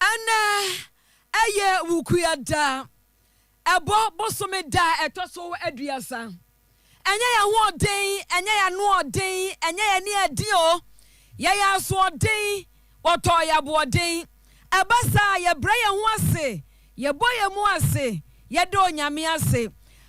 Ɛnnɛ, ɛyɛ Wukuya da. Ɛbɔ bosome da a ɛtɔ so aduasa. Ɛnyɛ yɛn ahoɔden, ɛnyɛ yɛn anoɔden, ɛnyɛ yɛn ani aden o. Yɛyɛ asoɔden, wɔtɔɔ yɛn aboɔden. Ɛba saa a, yɛbrɛ yɛn ho ase, yɛbɔ yɛn mu ase, yɛda Onyame ase.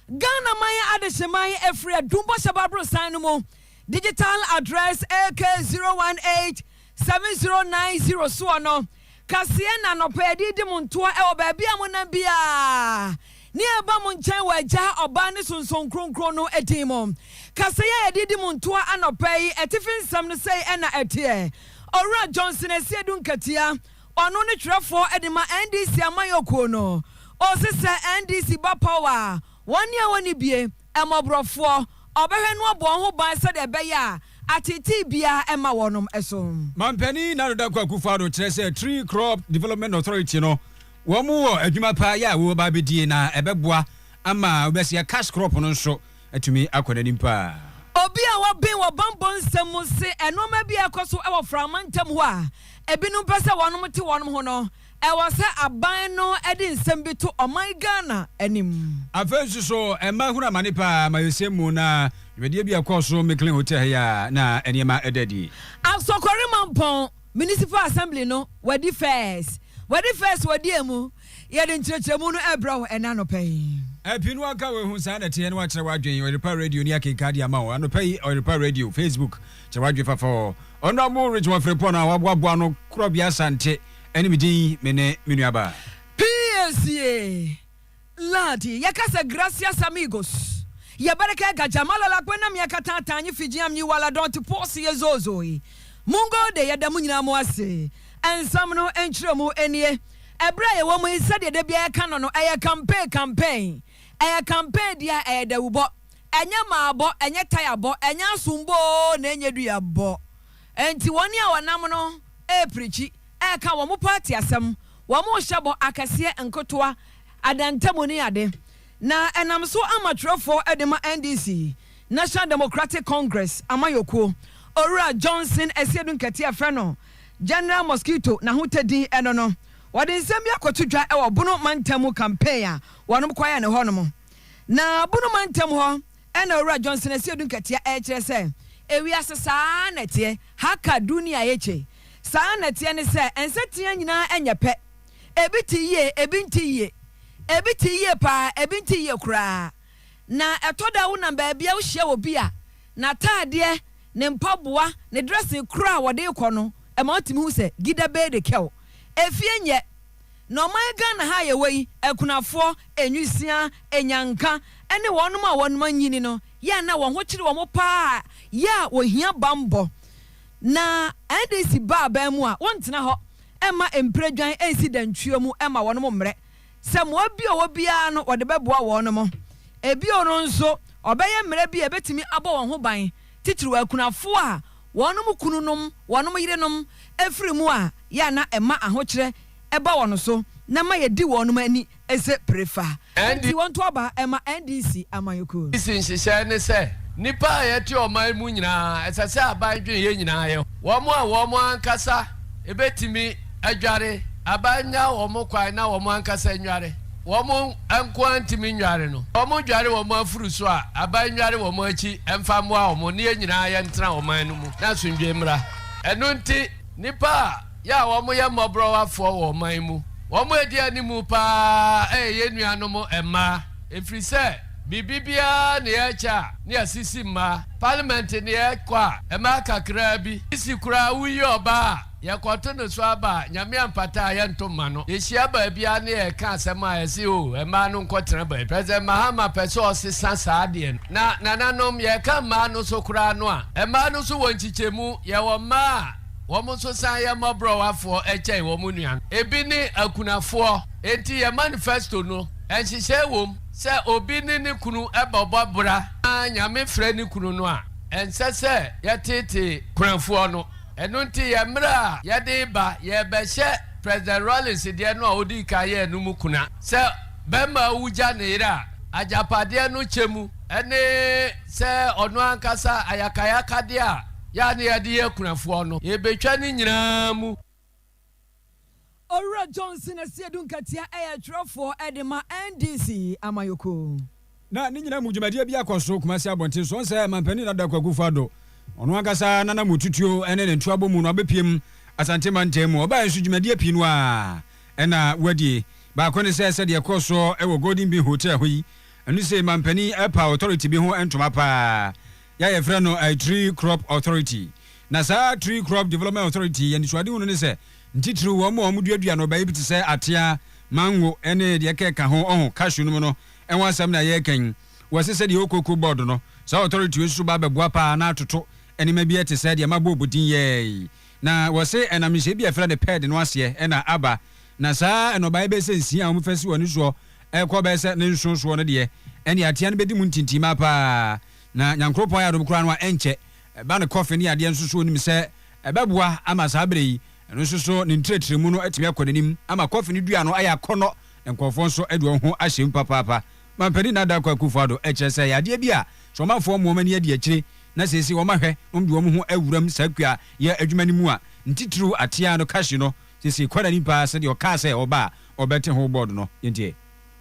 Ghanaman Adehyeman Afiri Adum Bɔhyɛ Baborosan no mu, Digital Address AK 018. 7090 soɔ no, kaseɛ na anɔpa yɛde redi mo ntoɔ wɔ baabi a monam biara, ne yɛreba mo nkyɛn wɔ Agya, Ɔba, ne Sonson Kronkron no din mu. Kaseɛ a yɛde redi mo ntoɔ anɔpa yi atifi nsɛm no sei na ɛteɛ, Owura Johnson Asiedu Nkatia, ɔno ne twerɛfoɔ de ma NDC amanyɔkuo no, ɔse sɛ NDC ba power a, wɔn ne a wɔnni bie. Mmɔborɔfoɔ, Ɔbɛhwɛ noɔ bɔ wɔn ho ban sɛdeɛ ɛbɛyɛ a ateetee biara remma wɔnom so. Mampanin Nana Dankwa Akufo-Addo kyerɛ sɛ Tree Crop Development Authority no wɔn wɔ adwuma pa yɛ a wɔba abɛdie na ɛbɛboa ama wobɛseɛ cash crop no nso atumi akɔ n'anim paa. Obi a wɔben wɔ bammɔ nsɛm mu se nnoɔma bi a ɛkɔ so wɔ Frama ntam hɔ a ebinom pɛ sɛ wɔnom te wɔnom ho no Ɛwɔ sɛ aban no de nsɛm bi to ɔman Ghana anim. Afei nso so, mmaa hunu amane paa amayɛsɛm mu na dwumadie bi a ɛkɔɔ so Micklin Hotel ha yi a na nneɛma da adi. Asokore Mampong Municipal Assembly no wadi fɛs wadi fɛs wɔ deɛ mu? Yɛde nkyerɛkyerɛmu no rebrɛ wo ɛnnɛ anɔpa yi. Pii no waka wahu saa na ɛteɛ na wakyerɛ w'adwene Ɔyerpa Radio ni akenkan de ama wo anɔpa yi Ɔyerpa Radio Facebook kyerɛ w'adwene fafa wɔ Honourable Richmond Frimpong a waboaboa ano korɔbea Asante Ɛne me din, me ne me nuabaa. PACA, Ladi, yɛkasa Gracias amigos, ya baraka ga jama la la kwenda miaka ta ta nyi fiji am nyi wala donti posi ye zozoi mungo de yɛda mo nyinaa mo ase Nsɛm no nkyerɛmu nie Ɛberɛ a yɛwɔ mu yi sɛdeɛ da biara yɛka no no ɛyɛ campaign campaign ɛyɛ campaign deɛ a ɛyɛ dawubɔ ɛnyɛ maabɔ ɛnyɛ tayabɔ ɛnyɛ asombɔ oo na ɛnyɛ duabɔ Enti wɔn a wɔnam no reprikyi, reka wɔn pɔ ateasɛm, wɔrehyɛ bɔ akɛseɛ, nketewa, adantamu ne ade, na ɛnam so ama twerɛfoɔ de ma NDC, National Democratic Congress, amanyɔkuo, Owura Johnson Asiedu Nkɛtɛ a wɔfrɛ no General Mosquito n'ahotadin no no, wɔde nsɛm bi akɔto dwa wɔ Bono mantam mu campaign a wɔnom kɔyɛ no hɔ nom. Na Bono mantam hɔ. Ɛna Owura Johnson Asiedu Nkatia ɛrekyerɛ sɛ, Ewiase saa ara na ɛteɛ, Haka Dunia Yake, saa ara na ɛteɛ ne sɛ, nsateaa nyinaa nyɛ pɛ, ebi te yie, ebi nte yie, ebi te yie paa, ebi nte yie koraa. Na ɛtɔ da a wonam baabi a wohyia obi a, n'ataadeɛ, ne mpaboa, ne dressing koraa a wɔde rekɔ no ma wotumi hu sɛ, Gida Bey de Kɛw, efie nyɛ. Na ɔman Ghana ha a yɛwɔ yi, akunafoɔ, nwisiaa, anyanka, ne wɔnom a wɔnom anyini no yɛ a na wɔn ho kyere wɔn pa ara yɛ a wɔhia bammɔ. Na NDC ba aban mu a, wɔntena hɔ mma mpiredwan nsi dantwuo mu mma wɔnom mmrɛ. Sɛ mmoa bi a wɔwɔ biara no wɔde bɛboa wɔnom. Bio no nso, wɔbɛyɛ mmara bi a ɛbɛtumi abɔ wɔn ho ban, titiriw akunafoɔ a wɔnom kununom, wɔnom yerenom, firi mu a, yɛ a na ɛma ahokyerɛ ba wɔn so na ɛma yɛdi wɔnom ani sɛ pirefa. ND. Nti wɔnto aba mma NDC amanyɔkuo. NDC nhyehyɛɛ ne sɛ, nnipa a yɛte ɔman mu nyinaa, ɛsɛ sɛ aban dwen yɛn nyinaa yɛ ho. Wɔn a wɔn ankasa bɛtumi. adware, aban nnya wɔn kwan na wɔn ankasa nnware, wɔn nko ara ntumi nnware no, wɔdware wɔn afuru so a, aban nnware wɔn akyi mfa mmoa wɔn na yɛn nyinaa yɛntena ɔman no mu na asomdwoe mmra. Ɛno nti, nnipa a yɛ a wɔyɛ mmɔborɔwafoɔ wɔ ɔman mu, wɔn a ɛdi anim pa ara yɛ yɛn nuanom mmaa, ɛfiri sɛ biribi biara nni ɛkyɛ a ne yɛasisi mmaa, parliament nni ɛkɔ a, mmaa kakraa bi sisi koraa a woyi ɔbaa a, Yɛkɔto no so aba a, Nyame ampata a yɛnto mma no. Yɛhyia baabi ara na yɛreka asɛm a, yɛse o, mmaa no nkɔtena baabi. President Mahama pɛ sɛ ɔsesa saa adeɛ no. Na nananom, yɛreka mmaa no so koraa no a, mmaa no nso wɔ nkyekyɛmu. Yɛwɔ mmaa a wɔn nso san yɛ mmɔborɔwafoɔ kyɛn wɔn nuanom. Ebi ne akunafoɔ. Enti yɛn manifesto no, nhyehyɛe wom sɛ obi ne ne kunu bɛbɔ bra na Nyame frɛ ne kunu no a, ɛnsɛ sɛ yɛteetee kunafoɔ no. Ɛno nti yɛn mmerɛ a yɛde reba, yɛrebɛhyɛ President Rawlings deɛ no a ɔdii kan yɛɛ no mu kuna, sɛ barima a ɔwu gya ne yere a, agyapadeɛ no kyɛ mu ne sɛ ɔno ankasa ayakayakadeɛ a yɛ a na yɛde yɛ akunafoɔ no, yɛrebɛtwa ne nyinaa mu. Owura Johnson Asiedu Nkatia yɛ twerɛfoɔ de ma NDC amanyɔkuo. Na ne nyinaa mu dwumadie bi akɔ so Kumasi abɔnten so ɔnsɛ Manpanin Nana Daku Akufo Addo ɔno ankasa nana mu tutuo ne ne ntoabɔ mu no abɛpiem Asante mantam mu. Ɔbaeɛ nso dwumadie pii no ara na wadi. Baako ne sɛ sɛdeɛ ɛkɔɔ soɔ wɔ Golden Bean Hotel ho yi ɛno sei Manpanin ɛpa authority bi ho ntoma paa. yi a yɛfrɛ no Tree Crop Authority. Na saa Tree Crop Development Authority yi anisoadehunu ne sɛ ntitiriw wɔn a wɔduadua nnɔbae bi te sɛ atea, mango ne deɛ ɛkeka ho, ɔho, cashew nom no ho asɛm na yɛreka yi. Wɔse sɛdeɛ Okooko Board no, saa Authority yi nso ba bɛboa paa na atoto nneɛma bi te sɛ deɛ Mabob din yɛɛ yi. Na wɔse ɛnam nhyehyɛe bi a yɛfrɛ no PERD no aseɛ na aba. Na saa nnɔbae bɛyɛ sɛ nsia a wɔfa si wɔn ani soɔ kɔ bɛyɛ sɛ ne nson soɔ no deɛ, ɛnneɛ atea no bɛdi mu ntintimaa paa. Na Nyankroɔpɔn ayɛ adom koraa no a ɛnkyɛ ɛba ne kɔfe ne adeɛ nso so onim sɛ ɛbɛboa ama saa berɛ yi ɛno nso so ne ntrɛtrɛmu no atumi akɔ n'anim ama kɔfe no dua no ayɛ akɔnnɔ na nkorɔfoɔ nso de wɔn ho ahyɛ mu papaapa. Mampanin Nana Darko Akuffo Addo ɛkyerɛ sɛ ɛyɛ adeɛ bi a sɛ ɔmanfoɔ mmoa wɔn ani adi akyire na seesei wɔn ahwɛ na wɔn de wɔn ho awuram saa kua yɛ adwuma no mu a ntitiriw ateaa no kahye no seesei kɔ n'anim paa sɛdeɛ ɔkaa sɛ ɔba a ɔbɛte ho board no yɛntie.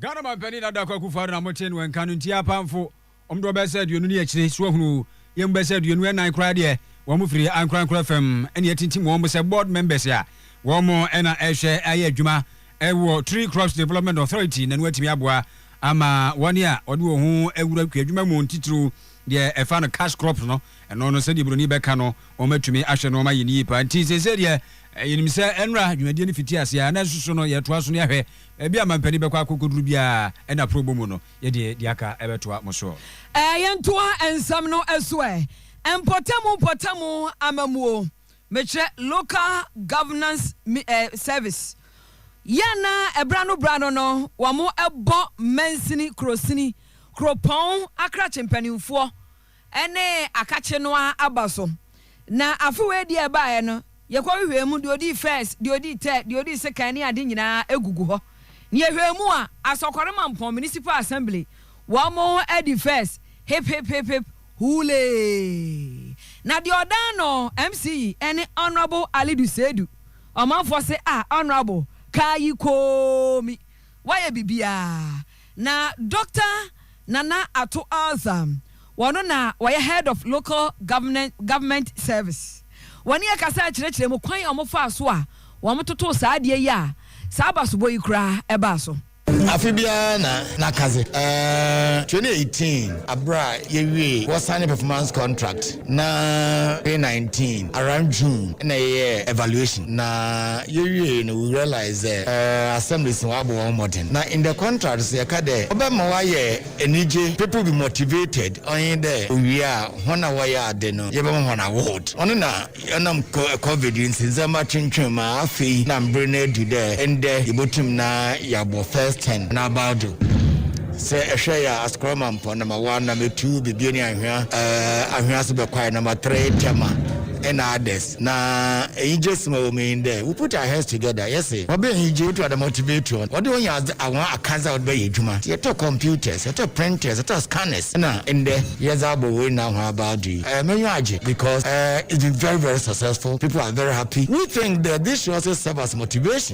Ghana Ɔmanpanin Nana Dankwa Akufo Addo na mote no nka no nti apamfo wɔn dodoɔ bɛyɛ sɛ aduonu ne akyire so ahunu yɛn mu bɛyɛ sɛ aduonu ɛnan koraa deɛ wɔn firi ankorankora fam ɛne atintim wɔn sɛ board members a wɔn ɛna ɛhwɛ ayɛ adwuma ɛwɔ Tree Crops Development Authority na no atumi aboa ama wɔn a wɔde wɔn ho awura kuadwuma mu ntitiriw deɛ ɛfa no cash crops no ɛno no sɛdeɛ buroni bɛka no Wɔatumi ahwɛ nnoɔma ayɛ no yie paa nti seesei deɛ yɛnim sɛ nnora dwumadie no fiti aseɛ a na nso so no yɛtoa so no yɛahwɛ baabi a mampanin bɛkɔ akɔkɔduru biara ɛna aprɔbɔ mu no yɛde deɛ aka bɛtoa mo soɔ. Ɛɛ yɛntoa nsɛm no so ɛ? Mpɔtamu mpɔtamu amammuo, mekyerɛ Local Governance mi ɛ Service, yɛ a na ɛberɛ ano berɛ ano no wɔbɔ mansini, kurosini, kuropɔn akrakye mpanimfoɔ, ne akakye no ara aba so. Na afe weadi a ɛbaeɛ no, yɛkɔhwehwɛɛ mu, deɛ ɔdii first, deɛ ɔdii third, deɛ ɔdii sekan ne ade nyinaa gugu hɔ. Na yɛhwɛɛ mu a, Asɔkɔre Mampɔn Municipal Assembly, wɔn adi first, hip hip hip hip, hooleeeee. Na deɛ ɔdan no MC yi ne Honourable Alidu Seidu. Ɔmanfoɔ se, ah Honourable, kaa yi koomi, woayɛ biribiara. Na Doctor Nana Atto Alzah, wɔno na wɔyɛ Head of Local Government Service, wɔne yɛ kasaa kyerɛkyerɛɛ mu kwan a wɔn faa so a wɔn totoo saa adeɛ yi a saa basobɔ yi koraa ɛbaa so. Afe biara na na kadze, eh, twenty eighteen, aber a yewiee Wɔsan ne Performance Contract. Na twenty nineteen around June na yɛyɛɛ evaluation na yewiei no we realised dɛ assemblies no wɔabɔ hɔn mbɔdzen na in the contract so yɛka dɛ ɔbɛma wɔayɛ enyigye, people will be motivated, ɔnye dɛ owie a hɔn a wɔyɛ adze no yɛbɛma hɔn award. Ɔno na ɔnam Covid ntsi ndzɛmba twentween mu a afei na mber no edu dɛ ndɛ yebotum na yɛabɔ first ten na abaa do. Sɛ ɛhwɛe a, asekorɔ ma mpɔn na ma waa na metu bebie ne anhwea anhwea so bɛkwae na matre tɛma ɛna adɛs na enyigye sima wɔ meyin dɛ we put our heads together yɛse wɔbɛ enyigye wotu ada motivate wɔn wɔde wɔn yɛ adze awɔn akadze a wɔde bɛyɛ adwuma nti yɛtɔ computers yɛtɔ printers yɛtɔ scanners ɛna ndɛ yɛdze abɔ wei na ahɔn aba ado yi ɛɛ menyiwa agye because ɛɛ it's been very very successful people are very happy we think that this should also serve as motivation.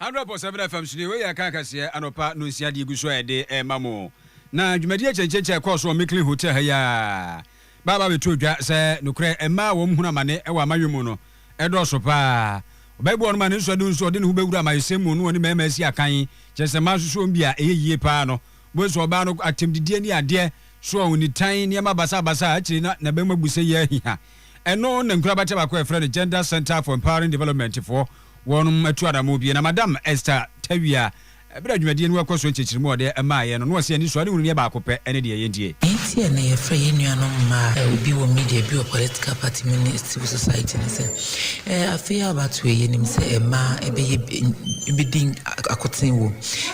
Hundred point seven FM so nie, wei yɛ Kaakaseɛ anɔpa nonsia deɛ egu so a yɛde rema mo. Na dwumadie akyɛnkyɛnkyɛn a ɛkɔɔ so wɔ Micklin Hotel ha yi ara ba aba abɛtoo dwa sɛ nokorɛ mmaa a wɔhunu amane wɔ amanyɔ mu no dɔɔso pa ara. Ɔbɛɛboa wɔn ma ne nsɔano nso ɔde ne ho bɛwura amayɛsɛm mu na ɔne mmarima asi akan, kyerɛ sɛ mmaa nso so wɔn bi a ɛyɛ yie pa ara no. Wobɛhu sɛ ɔbaa no atɛmdidie ne adeɛ so a ɔnnitan nneɛma basabasa a akyire na n'abam abu sɛ yɛ ahiha. Ɛno na nkorabata baako a yɛfrɛ no Gender Centre for Empowering Development foɔ wɔnom atu anammɔn pue. Na Madam Esther Tawia, berɛ a dwumadie no rekɔ so nkyerɛkyerɛmu a ɔde maeɛ no, na ɔse anisoade hunu no yɛ baako pɛ ne deɛ yɛndie. Enti a na yɛfrɛ yɛn nuanom mmaa, ebi wɔ media, ebi wɔ political party mu ne civil society ne sɛ, eh, afe yi a abatoɔ yi, yɛnim sɛ mmaa ɛbɛyɛ, ɛbɛdi akoten wom.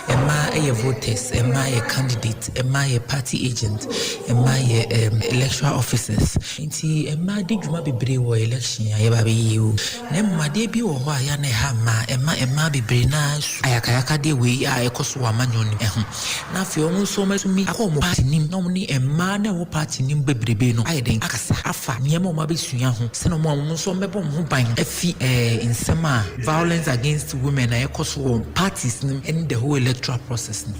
Mmaa ɛyɛ voters, mmaa yɛ candidates, mmaa yɛ party agents, mmaa yɛ, eh, electoral officers. Nti mmaa di dwuma bebree wɔ election a yɛba bɛyɛ yi o. Na mmom adeɛ bi wɔ hɔ a ɛyɛ a na ɛha mmaa, ɛma mmaa bebree no ara su ayakayakadeɛ wei a ɛkɔ so wɔ amanyɔ no mu ho. Na afei wɔn nso wɔatumi akɔ wɔn party no mu na wɔne mmaa no a ɛwɔ party no mu bebrebe no ayɛ dɛn, akasa afa nneɛma a wɔabɛsua ho sɛdeɛ wɔn a wɔn nso wɔbɛbɔ wɔn ho ban afi nsɛm a violence against women a ɛkɔ so wɔ parties no mu ne the whole electoral process no.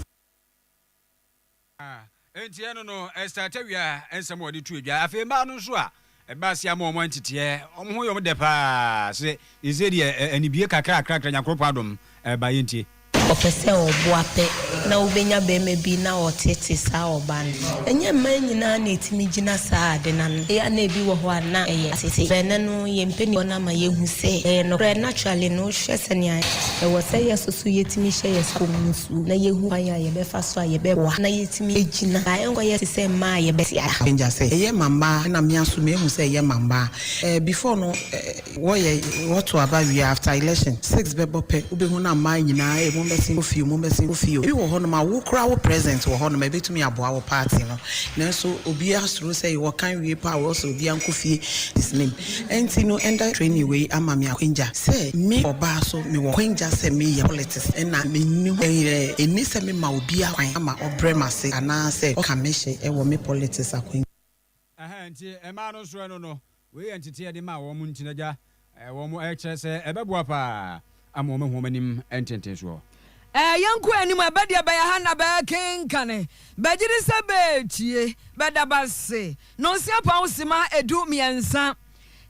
Enti ɛno no ɛstart awia nsɛm a wɔde to adwa. Afei mmaa no nso a ɛba ase ama wɔn anteteɛ, wɔn ho yɛ wɔn dɛ paa sɛ ɛsɛ deɛ anibie kakrakrakra Nyankoropɔn adom ɛba yɛntie. Ɔpɛ sɛ ɔboa pɛ na wobɛnya barima bi na ɔtete saa ɔbaa no. Ɛnyɛ mmaa nyinaa na ɛtumi gyina saa ade no ano. Ɛyɛ a na ɛbi wɔ hɔ a na ɛyɛ asete. Bɛɛ nɛ no yɛn mpaninfoɔ no ama yɛahu sɛ ɛyɛ nokorɛ. Naturally no wohwɛ sɛnea ɛwɔ sɛ yɛsoso yɛtumi hyɛ yɛn sɛ kɔm no nso. na yɛhu kwan a yɛbɛfa so a yɛbɛboa na yɛatumi agyina a ɛnkɔyɛ te sɛ mmaa a yɛbɛte ara. Danger sɛ ɛyɛ ma mmaa na me aso mehu sɛ ɛyɛ ma mmaa eh before no eh wɔyɛ wɔto aba wie a after election six bɛbɔ pɛ wobɛhu na mmaa nyinaa eh mommɛsen kɔ fie o mommɛsen kɔ fie o ebi wɔ hɔ nom a wo koraa wo present wɔ hɔ nom a ɛbɛtumi aboa wo party no nanso obiara suro sɛ wɔkan wie paa wɔsɛ obiara nkɔ fie his name. Ɛnti no ɛnda training wei ama me akwangya sɛ me ɔbaa so me wɔ kwangya sɛ me yɛ politics ɛna me nni ho ɛyɛ ɛnni sɛ me ma obia kwan ama ɔbrɛ m'ase anaa sɛ ɔka me hye ɛwɔ me politics akwangya. Ɛhɛn nti ɛmaa no nsorɛ no no wei yɛ nteteɛ de ma wɔn nti nagya wɔn ɛkyerɛ sɛ ɛbɛboa paa. Ama wɔahu wɔn anim ntentensoɔ. Ɛɛ yɛnkɔ anim a, bɛdeɛ bɛyɛ ha na bɛɛkenkane, bɛgyede sɛ bɛɛtie, bɛda base, Nonsia Pao Sima Edu Miɛnsa.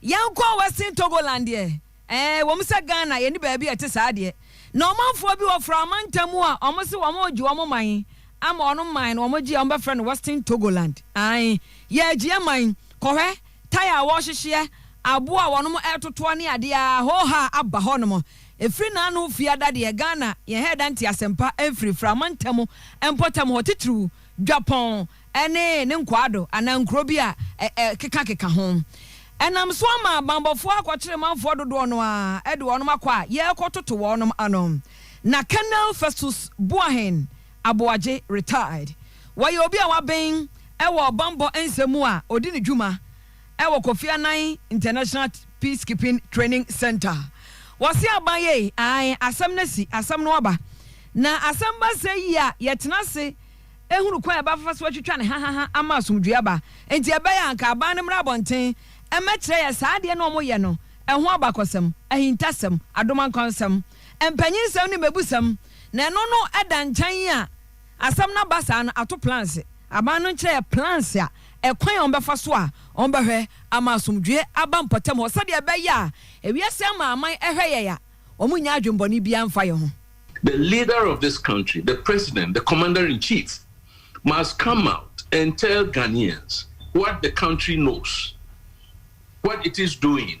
Yɛnkɔ Western Togoland deɛ, ɛɛ ɛwom sɛ Ghana yɛnni baabi a ɛte saa deɛ, na ɔmanfoɔ bi wɔ Fra mantam mu a wɔn se wɔn regye wɔn man ama wɔn man no wɔn gye a wɔn bɛfrɛ no Western Togoland, aane, yɛɛgyeɛ man, kɔhwɛ, tae a wɔhyehyeɛ, aboɔ a wɔnom totoɔ ne adeɛ aa hoohaa aba hɔ nom ɛfiri naano fiada deɛ Ghana yɛn hɛɛda nte asɛmpa mfiri frama ntamu mpɔtam hɔ titiriw Dwapɔn ne ne nkwaado anaa nkuro bi a ɛkeka keka ho ɛnam so ama banbɔfoɔ akɔkyere manfoɔ dodoɔ no aa de wɔnom akɔ a yɛɛkɔ toto wɔnom ano na Colonel Festus Boahen Aboagye, retired. Wɔyɛ obi a waben wɔ ɔbammɔ nsɛm mu a ɔdi ne dwuma wɔ Kofi Annan International Peacekeeping Training Centre. Wɔse aban yɛ ei, ae, asɛm no asi, asɛm no aba. Na asɛm ba sɛ yi a, yɛtena ase hunu kwan a yɛbɛfa so atwitwa no hahaha ama asomdwoeɛ aba. Enti ɛbɛyɛ a anka aban no mmra abɔnten mmɛkyerɛ yɛn saa adeɛ no a wɔyɛ no ho abakɔsɛm, ahintasɛm, adomankwansɛm, mpanyinsɛm ne mmɛbusɛm. na ɛno no da nkyan yi a asɛm no aba saa no ato plans aban no nkyerɛ yɛ plans a ɛkwan a wɔbɛfa so a wɔbɛhwɛ ama asomdwoeɛ aba mpɔtam hɔ sɛdeɛ ɛbɛyɛ a ewiase amanaman ɛhwɛ yɛn a wɔnnya adwembɔne biara mfa yɛn ho. The leader of this country, the president, the commander in chief must come out and tell Ghanaians what the country knows, what it is doing.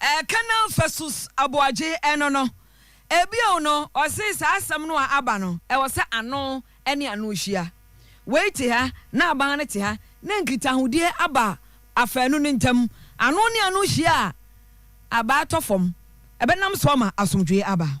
Eh, Colonel Festus Aboagye ɛno no. Eh, bio no, ɔse saa asɛm no a aba no, ɛwɔ sɛ ano ne ano hyia. Wei te ha na aban no te ha, na nkitahodeɛ aba afaanu no ntam. Ano ne ano hyia a, abaa tɔ fam. Ɛbɛnam so ama asomdwoeɛ aba.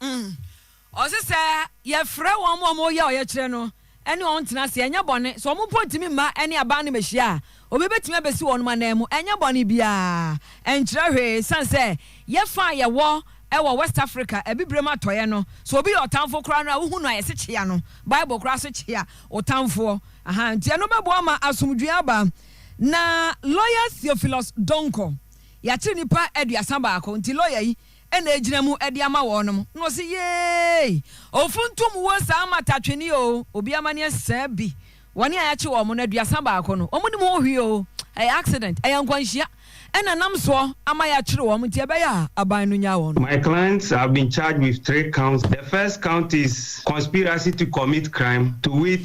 Ɔse sɛ yɛfrɛ wɔn ma wɔyɛ ɔyɛkyerɛ no ɛne wɔn tena ase ɛnyɛ bɔne. Sɛ wɔn mpo ntumi mma ɛne aban no mmɛhyia a, obi bɛtumi abɛsi wɔn ananmu. Ɛnyɛ bɔne biara. Ɛnkyerɛ hwee. Ɛsiane sɛ yɛn fa a yɛwɔ wɔ West Africa, Abibirem Atɔeɛ no, sɛ obi yɛ ɔtamfo koraa no a, wohu no a, yɛse kyea no. Bible koraa se kyea wo tamfoɔ. Ahaa, nti ɛno bɛboa ma asomdwoeɛ aba. Na lɔya Theophilus Donkor, yɛakyere nnipa aduasa baako. Nti lɔya yi. na ɛgyina mu de ama wɔnom, na ɔse, Yeei! Ɔfo ntom wo saa matatwene oo, obi amaneɛ saa bi, wɔne a yɛakye wɔnom no aduasa baako no, wɔn nim ho hwee oo, ɛyɛ accident, ɛyɛ nkwanhyia na nam soɔ ama yɛakyere wɔnom nti ɛbɛyɛ a aban no nyaa wɔnom. My clients have been charged with three counts, the first count is conspiracy to commit crime, to wit,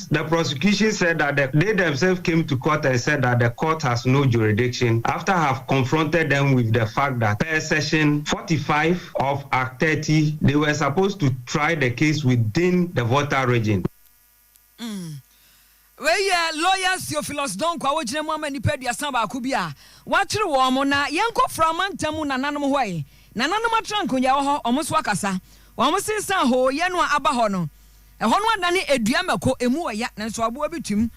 The prosecution said that the they themselves came to court and said that the court has no jurisdiction after have confronted them with the fact that per section forty five of act thirty they were supposed to try the case within the Volta region. Mm. Wei yɛ lawyer Theophilus Donkor a ɔgyina mu ama nnipa aduasa baako bi a wɔakyere wɔn na yɛnkɔ fra mantam mu nananom hɔ ɛ. Nananom atrankonyaeɛ hɔ, wɔn nso akasa. Wɔn se sane hooyɛ no a aba hɔ no, Ɛhɔ no adane edua mako, emu wɔ ya, nanso aboa bi twam.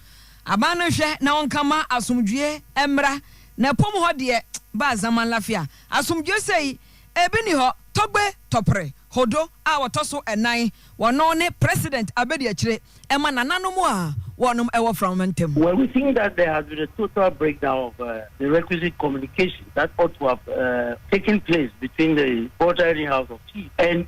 Aban no nhwɛ na ɔnka mma asomdwoeɛ mmra, na ɛpo mu hɔ deɛ, baa zaman lafia. Asomdwoeɛ sei, ebi nni hɔ. Tɔgbe, Tɔpre, Hodo a wɔtɔ so nnan, wɔno ne President Abadiakyire, ɛma nananom a wɔnom wɔ Framama ntam. Well, we think that there has been a total breakdown of the requisite communication that ought to have taken place between the Volta Area House of Chiefs and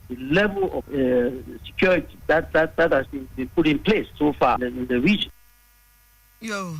the level of uh, security that, that, that has been, been put in place so far in, in the region. Yo.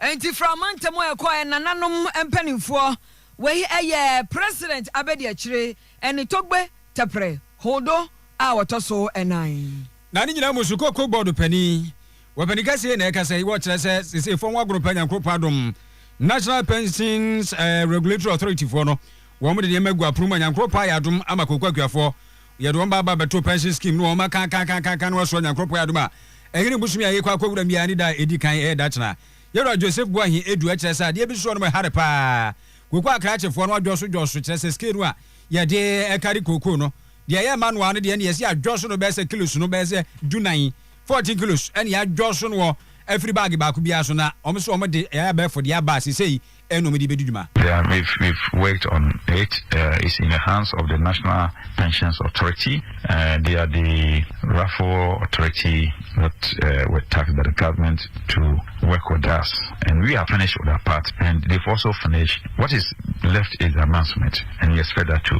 nti frama ntɛm a ɛkɔ ɛ nananom mpanimfoɔ wei ɛyɛ president abɛdi akyire ɛne togbe tɛprɛ hodo a wɔtɔ so ɛnan Na ne nyinaa mu Sukooko Bɔɔdo Panin, wɔpanin kɛseɛ na ɛkasa yi, wɔkyerɛ sɛ sesei fam agorɔ paa Nyankoropɔn adom, National Pensions Regulatory Authority foɔ no, wɔn de nneɛma agu apono mu a Nyankoropɔn ayɛ adom ama Kooko Akuafoɔ, yɛde wɔn baaba abɛto Pension Scheme no wɔn akaakaakaaka no asoɔ Nyankoropɔn ayɛ adom a ɛhene bosome a yɛkɔ akɔwura mu yi ara ne da a ɛdi kan ɛyɛ Dakyena Yɛwura Joseph Boahen Adu ɛkyerɛ sɛ adeɛ bi soɔ no mu ɛhare paa Kooko Akrakyefoɔ no adwɔso dwɔso kyerɛ sɛ scale no a yɛde ɛkari Kooko no Deɛ ɛyɛ manual no deɛ ɛne yɛsi adjust no bɛyɛ sɛ kilos no bɛyɛ sɛ du nan, fourteen kilos, ɛne yɛadjust no wɔ afiri baage baako biara so na wɔn nso wɔn de ɛyɛ abɛɛfo deɛ aba sesei ɛna wɔn de bɛdi dwuma. Yeah, we've we've worked on it, uh, it's in the hands of the National Pensions Authority, uh, they are the rightful authority that uh, were taxed by the government to work with us, and we are finished with our part, and they've also finished. What is left is the announcement, and we expect that too.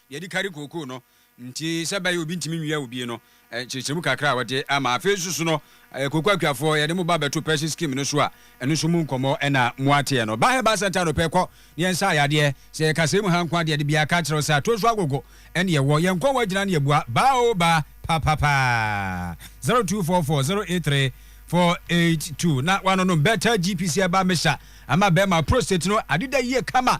Yɛde kari kookoo no nti sɛ ɛbɛyɛ obi ntumi nwia obi no nkyerɛkyerɛmu kakra a wɔde ama. Afei nso so no, kookoo akuafoɔ, yɛde mo ba bɛto Percy Scheme no so a, ɛno nso mu nkɔmmɔ na moateɛ no. Ba Herbal Centre anɔpɛ kɔ na yɛnsa ayadeɛ. Sɛ yɛka sɛi mu ha nko a deɛ, de bia ka kyerɛ wo sɛ atoo so agogo ɛne ɛwɔ. Yɛn nkɔn wɔ agyina ne yɛbua. Ba oo ba, papapa. 0244083482 na woanonom Better GPC Herbal Mixture ama bɛrima prostate no adeda yie kama.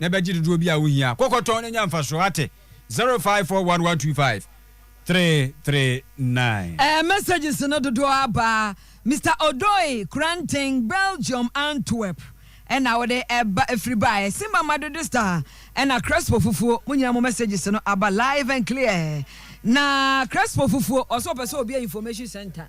na ɛbɛgye dodoɔ bi a wohia. Kɔ kɔtɔn na nya mfasoɔ, ate? 05411253339. Ɛɛ messages no dodoɔ aba a Mister Odoi, Kranten, Belgium, Antwerp, ɛna wode ɛba ɛfiri baeɛ. Simba Madede Star ɛna Crespo Fufuo, mo nyinaa mo messages no aba live and clear. Na Crespo Fufuo, ɔse ɔpɛ sɛ ɔbue information centre.